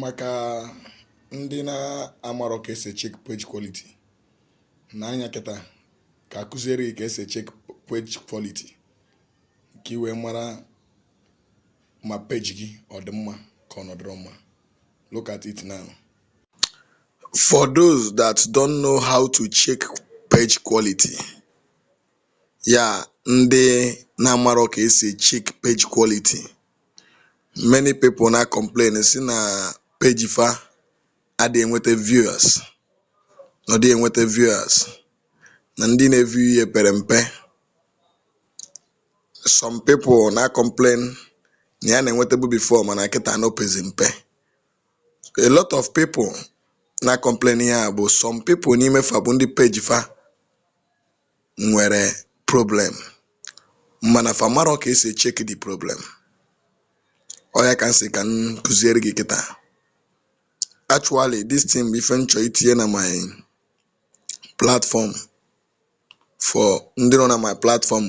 maka ndị na-amarọ ka esi check page quality nee anya kịta ka a kụziere gị ka esi check page quality ka ị wee mara ma peji gị ọ dị mma ka ọ na ọ dịrọ mma look at it now for those that don't know how to check page quality ya ndị na-amarọ ka esi check page quality many people na complain sị na page fa adịghị enweta viewers na ọ dịghị enweta viewers na ndị na-eview ya pere mpe some people na complain na ya na-enwetabu before mana kịta na o pezi mpe a lot of people na complain ihe a bụ some people n'ime fa bụ ndị page fa nwere problem mana fa marọ ka esi e check the problem. Ọ ya ka m sị ka m kuziere gị kịta. Actually this thing bụ ife m chọrọ itinye na my platform for ndị nọ na my platform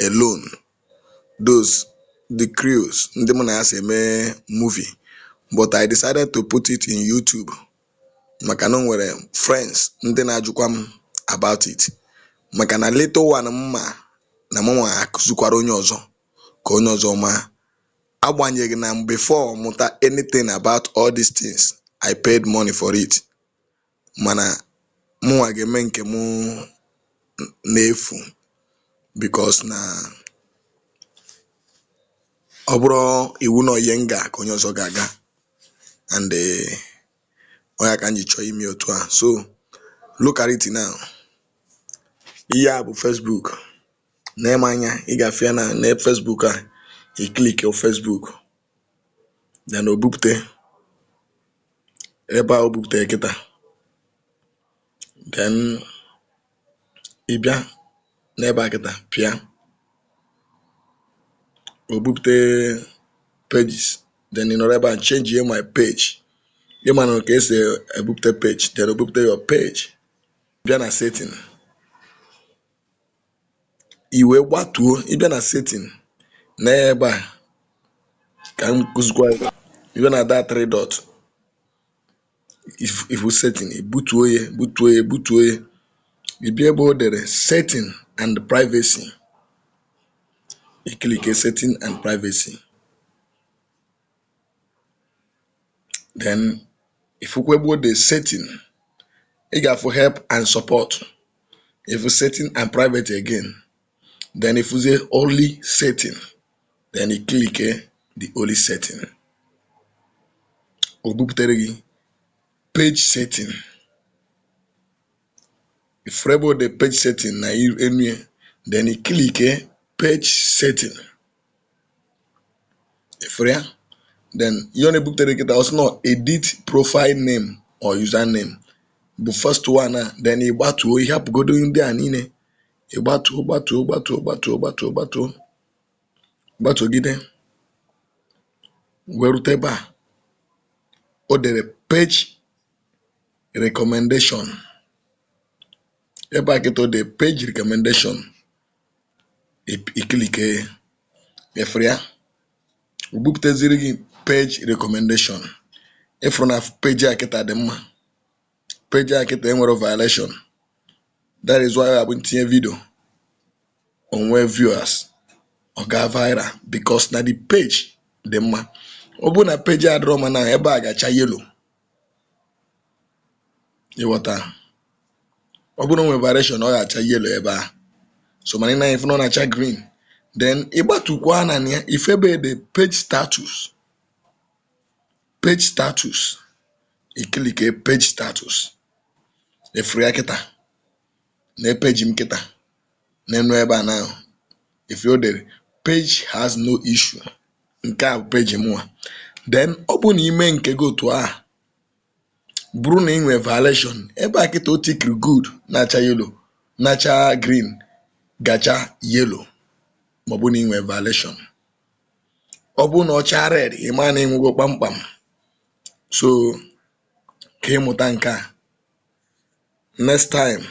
alone those the crews ndị mụ na ya so eme movie but I decided to put it in YouTube maka na o nwere friends ndị na-ajụkwa m about it maka na little one m ma na mụnwa akụzikwara onye ọzọ ka onye ọzọ maa. Agbanyeghị na m before m mụta anything about all these things, I paid money for it mana mụnwa ga-eme nke mụ n'efu because na ọ bụrọ iwu na ọ ihe m gaa ka onye ọzọ ga-aga. and um ọ ya ka m ji chọọ ime ya otu a. So, look at it now, ihe a bụ Facebook, nee m anya, ị ga-afụ ya na na Facebook a, i click your Facebook, then o bupute ebe a o buputere kịta, then ị bịa n'ebe a kịta pịa o bupute pages then ị nọrọ ebe a change ye my page ị manụ ka esi ebupute page then o bupute your page bịa na setting i wee gbatuo ị bịa na setting na ebe a ka m kụzikwa gị. ị bịa na that three dot ị fụ setting ị butuo ya butuo ya butuo ya ị bịa ebe o dere setting and privacy ị clickie setting and privacy then ị fụkwa ebe o dere setting ị ga-afụ help and support ị fụ setting and private again then ị fụzie only setting then i click the only setting o buputere gị page setting ị fụrụ ebe o de page setting na enu ya then i click page setting ị fụrụ ya then ihe ọ na-ebuputere gị taa ọ sị nọ edit profile name or username bụ first one a then ị gbatuo ị hapụgodu ndị a niile ị gbatuo gbatuo gbatuo gbatuo gbatuo gbatuo gbatuogide wee rute ebe a o dere page recommendation ebe a kịta o dere page recommendation ip- ị clickie ị fụrụ ya o bupụtaziri gị page recommendation ị fụrụ na page a kịta dị mma page a kịta enwerọ violation that is why ọ bụrụ m tinye video o nwee viewers ọ gaa viral because na the page dị mma ọ bụrụ na page adịrọ mma na ebe a ga-acha yellow ị ghọta ọ bụrụ na o nwe violation ọ ga-acha yellow ebe a so mana ị na-afụ na ọ na-acha green then ị gbatukwuo n'ana ya ị fụ ebe o de page status page status ị clickie page status ị fụrụ ya kịta na page m kịta n'enu ebe a na-ahụ ife o dere page has no issue nke a bụ page mụnwa then ọ bụrụ na i mee nke gị otu ahụ bụrụ na ị nwere violation ebe a kịta o tikiri good na-acha yellow na-acha green ga-acha yellow ma ọ bụrụ na ị nwere violation ọ bụrụ na ọ chaa red ị mara na ị nwụgo kpamkpam so ka ị mụta nke a next time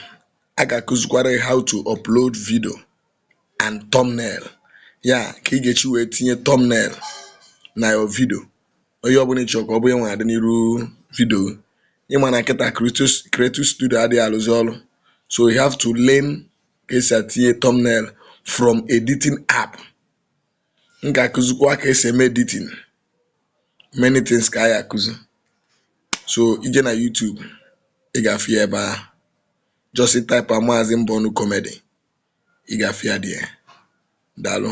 a ga-akụzikwara gị how to upload video and thumbnail ya ka ị ga-esi wee tinye thumbnail na your video onye ọbụla ị chọrọ ka ọ bụ ya nwa dị n'iru video ị ma na kịta creator studio adịghị alụzi ọrụ so you have to learn ka e si etinye thumbnail from editing app m ga-akụzikwa ka e si eme editing many things ka a ya-akụzi so i jee na YouTube ị ga-afụ ya ebe ahụ just taịpịa maazị mbụ ọnụ comedy ị ga-afụ ya there daalụ